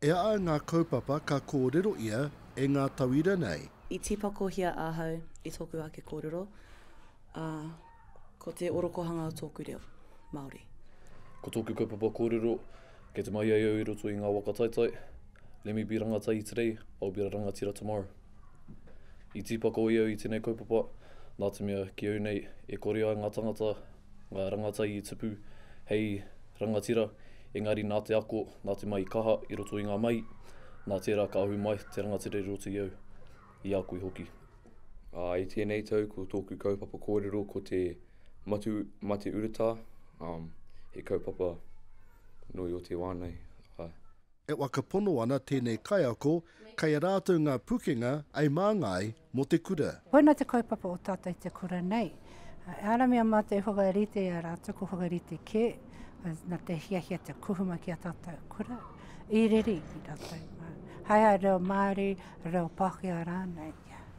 E ai ngā kaupapa ka kōrero ia e ngā tauira nei. I tīpakohia ahau i tōku ake kōrero, ā, ko te orokohanga o tōku reo, Māori. Ko tōku kaupapa kōrero, kei te mahi ai au i roto i ngā waka taitai, Let me be rangatahi today, I'll be a rangatira tomorrow. I tīpako ia au i tēnei kaupapa, nā te mea, ki au nei, e kore ai ngā tangata, ngā rangatahi i tupu hei rangatira, Engari nā te ako, nā te mahi kaha i roto i ngā mahi, nā tērā ka ahu mai te rangatira i roto i au, i a koe hoki. Ā, i tēnei tau ko tōku kaupapa kōrero ko te Matu Mate Uratā, ā, he kaupapa nui o te wā nei, ā. E whakapono ana tēnei kaiako kei a rātou ngā pukenga ei māngai Mō te kura. Koina te kaupapa o tātou i te kura nei. E ara mea mātou i whakarite i a rātou, ko whakarite kē, na te hiahia te kuhuma ki a tātou kura, i rere i rātou. Hai a reo Māori, reo Pākehā rānei,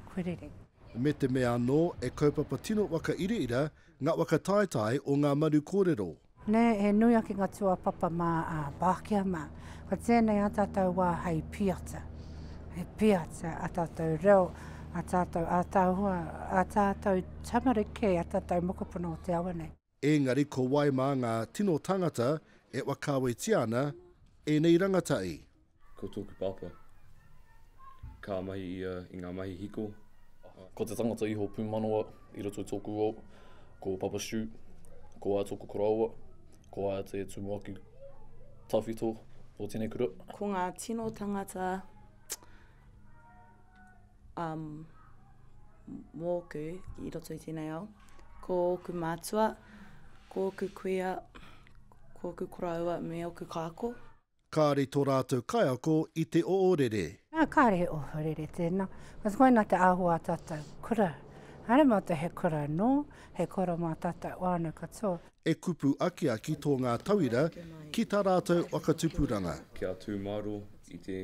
kua rere. Me te mea anō, e kaupapa tino waka iraira ngā waka taetae o ngā maru kōrero. Nē, he nui ake ngā tūāpapa mā a Pākehā mā. Ko tēnei ā tātou wā hei piata, hei piata ā tātou reo, ā tātou ātaahua, ā tātou tamariki, ā tātou mokopuna o te awa nei. Engari ko wai mā ngā tino tāngata e whakaawetia ana ēnei rangatahi? Ko tōku pāpā, ka mahi ia i ngā mahi hiko. Ko te tangata iho pūmanawa i roto i tōku ao, ko Papa Stu, ko a tōku koroua, ko a te tumuaki tawhito o tēnei kura. Ko ngā tino tangata um, mōku i roto i tēnei ao, ko ōku mātua, ko ōku kuia, ko ōku koroua me ōku kāko. Kāre tō rātou kaiako i te oorere. Nā, kāre he ohorere tēnā. Kāti koinā te āhua a tātou kura. Haere mā te he kura anō, he kura mā tātou whānau katoa. E kupu akiaki tō ngā tauira ki tā rātou whakatupuranga. Kia tū māro i te,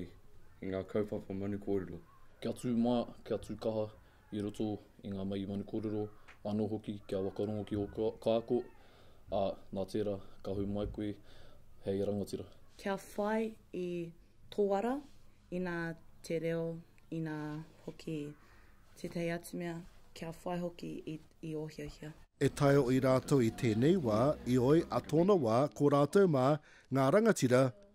i ngā kaupapa manu kōrero. Kia tū maia, kia tū kaha. i roto i ngā mahi manu kōrero, anō hoki kia whakarongo ki ō kāko, ā, nā tērā, ka hou mai koe hei rangatira. Kia whai i tō ara, inā te reo, inā hoki tētahi atu mea, kia whai hoki i ō hiahia. E taioi rātou i tēnei wā, i oi a tōna wā, ko rātou mā, ngā rangatira,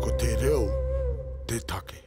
Ko te reo te take.